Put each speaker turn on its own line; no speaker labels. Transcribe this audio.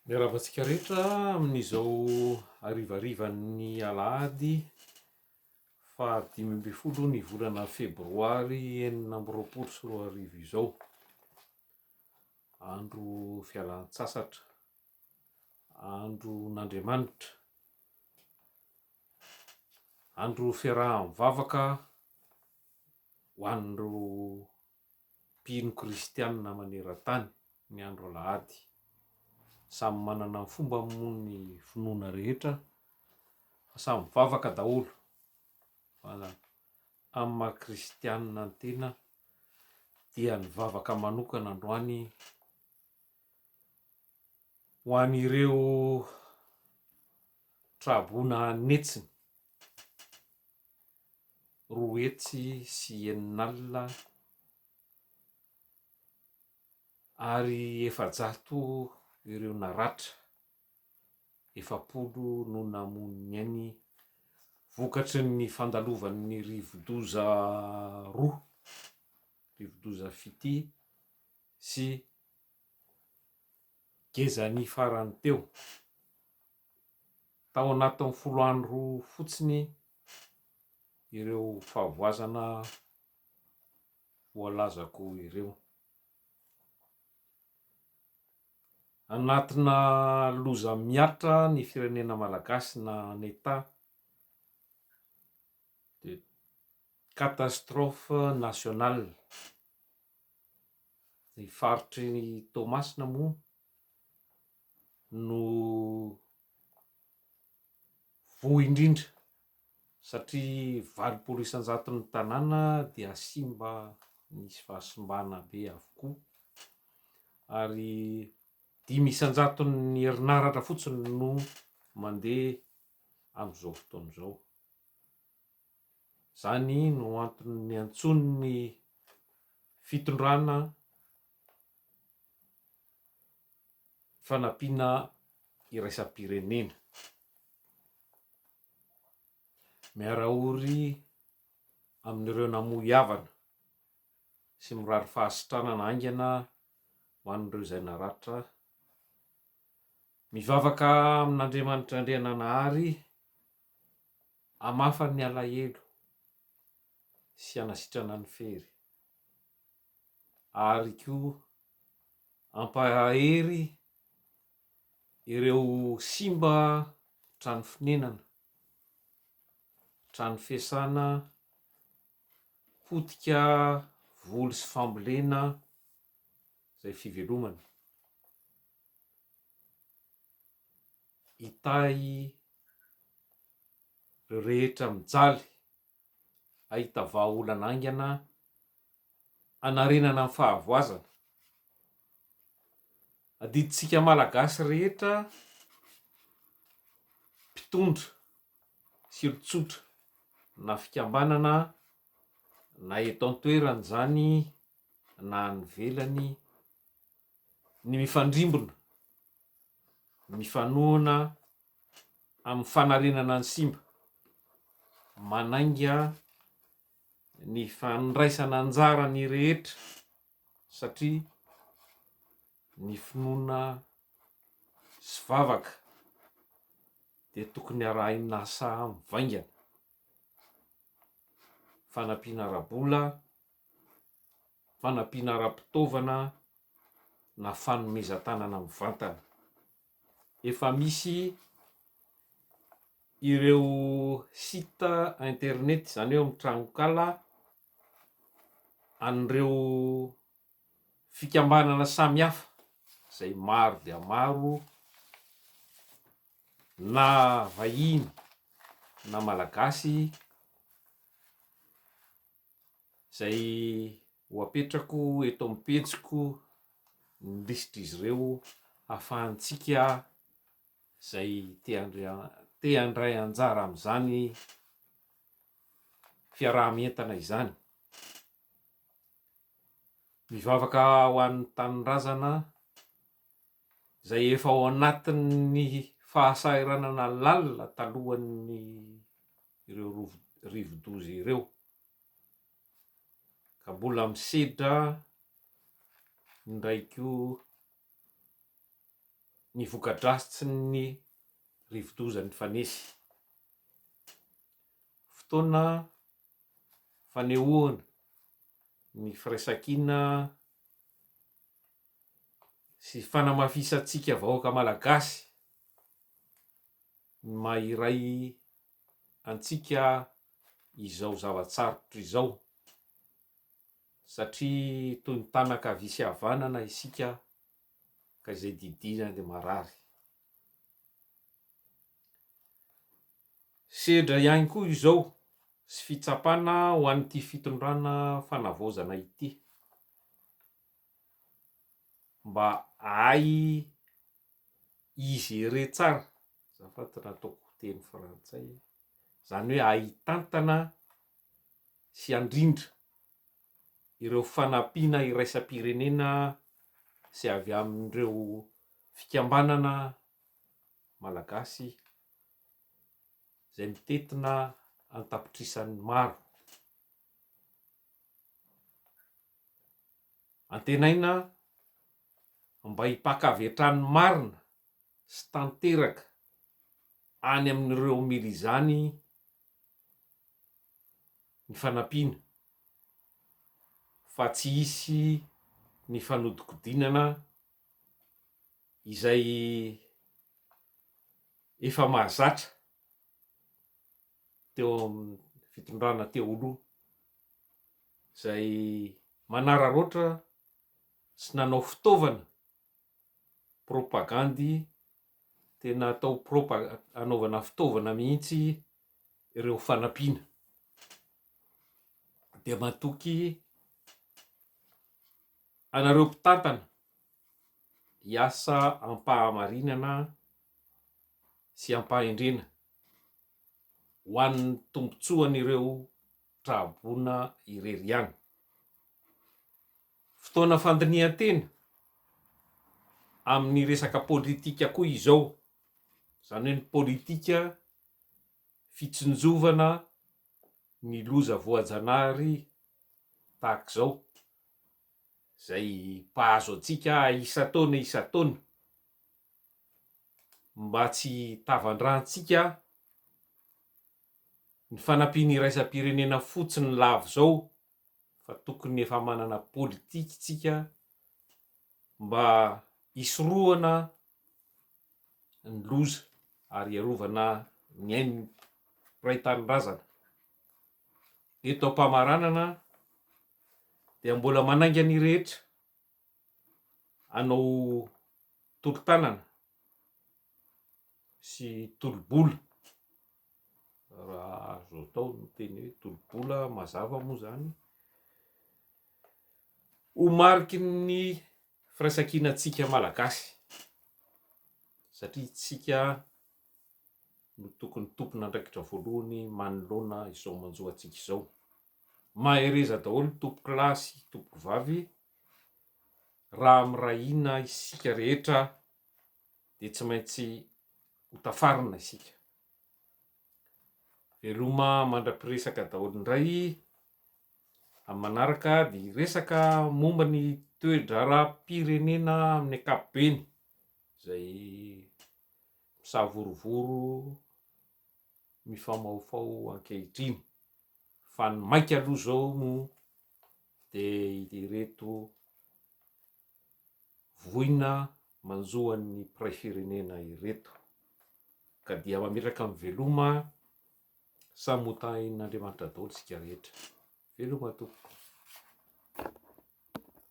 Miarahaba antsika rehetra amin'izao harivarivan'ny alahady faha dimy ambin'ny folo ny volana febroary enina amby roapolo sy roa arivo izao. Andro fialan-tsasatra, andron'Andriamanitra, andro fiaraha-mivavaka ho an'ireo. mpino kristianina maneran-tany ny andro alahady. Samy manana ny fombany moa ny finoana rehetra fa samy mivavaka daholo fa amin'ny maha kristianina ny tena dia nivavaka manokana androany ho an'ireo tra-boina netsiny. roa hetsy sy enina alina ary efajato ireo naratra, efapolo no namoy ny ainy vokatry ny fandalovan'ny rivodoza roa, rivodoza Fiti sy Gezani farany teo. Tao anatin'ny folo andro fotsiny ireo fahavoazana voalazako ireo. Anatina loza miatra ny firenena malagasy na en état de catastrophe nationale. Ny faritry Toamasina moa no voa indrindra satria valopolo isan-jaton'ny tanàna dia simba nisy fahasimbana be avokoa ary dimy isan-jaton'ny herinaratra fotsiny no mandeha amin'izao fotoana izao. Izany no antony niantsoan'ny fitondrana fanampiana iraisam-pirenena. Miara-ory amin'ireo namoy havana sy mirary fahasitranana haingana ho an'ireo izay naratra. Mivavaka amin'Andriamanitra Andriananahary hamafany ny alahelo sy hanasitrana ny fery. ary koa hampahery ireo simba trano fonenana, trano fiasana, potika, voly sy fambolena izay fivelomana. Hitahy ireo rehetra mijaly. hahita vahaolana haingana hanarenana ny fahavoazana. Adidintsika Malagasy rehetra mpitondra sy olon-tsotra na fikambanana na eto an-toerana izany na any ivelany ny mifandrimbona, mifanohana. amin'ny fanarenana ny simba, manainga ny fandraisana anjara ny rehetra satria ny finoana sy vavaka dia tokony arahina asa mivaingana, fanampiana ara-bola, fanampiana ara-pitaovana na fanomezan-tanana mivantana. efa misy ireo site internet izany hoe mitranonkala an'ireo fikambanana samihafa izay maro dia maro na vahiny na malagasy izay ho apetrako eto amin'ny pejiko ny lisitr'izy ireo hahafahantsika izay te handray anjara amin'izany fiaraha-mientana izany. Mivavaka ho an'ny tanindrazana. izay efa ao anatin'ny fahasahiranana lalina talohan'ny ireo rivodoza ireo ka mbola misedra indray koa ny voka-dratsin'ny rivodoza nifanesy. Fotoana fanehoana ny firaisankina sy fanamafisantsika vahoaka malagasy ny maha iray antsika izao zava-tsarotra izao satria toy ny tana ankavia sy havanana isika ka izay didiana dia marary sedra ihany koa izao sy fitsapana ho an'ity fitondrana fanavaozana ity Mba ahy i gérer tsara, azafady raha ataoko teny frantsay, izany hoe ahy hitantana sy handrindra ireo fanampiana iraisam-pirenena sy avy amin'ireo fikambanana malagasy izay mitentina an-tapitrisany maro. Antenaina fa mba hipaka avy hatrany marina sy tanteraka any amin'ireo mily izany ny fanampiana fa tsy hisy ny fanodikodinana izay efa mahazatra. teo amin'ny fitondrana teo aloha izay manararaotra sy nanao fitaovana propagandy tena atao propa anaovana fitaovana mihitsy ireo fanampiana dia matoky anareo mpitantana hiasa ampahamarinana sy ampahendrena ho an'ny tombontsoan'ireo tra-boina irery ihany. Fotoana fandinihan-tena amin'ny resaka politika koa izao, izany hoe ny politika fitsinjovana ny loza voajanahary tahaka izao, izay mpahazo antsika isan-taona isan-taona. mba tsy hitavandrantsika ny fanampiana iraisam-pirenena fotsiny lavo izao fa tokony efa manana politika isika mba hisorohana ny loza ary hiarovana ny ain'ny mpiray tanindrazana. Eto am-pamaranana dia mbola manainga ny rehetra hanao tolo-tanana sy tolo-bola, raha azo atao ny teny hoe tolo-bola mazava moa izany, ho mariky ny firaisankinantsika Malagasy satria isika no tokony tompon'andraikitra voalohany manoloana izao manjo antsika izao. Mahereza daholo tompoko lahy sy tompoko vavy raha miray hina isika rehetra dia tsy maintsy ho tafarina isika. Veloma mandra-piresaka daholo indray. Amin'ny manaraka dia hiresaka momba ny toe-draharaham-pirenena amin'ny ankapobeny izay misavorovoro mifamahofaho ankehitriny. Fa ny maika aloha zao moa dia ireto voina manjo an'ny mpiray firenena ireto ka dia mametraka amin'ny veloma samy ho tahin'Andriamanitra daholo isika rehetra. Veloma tompoko.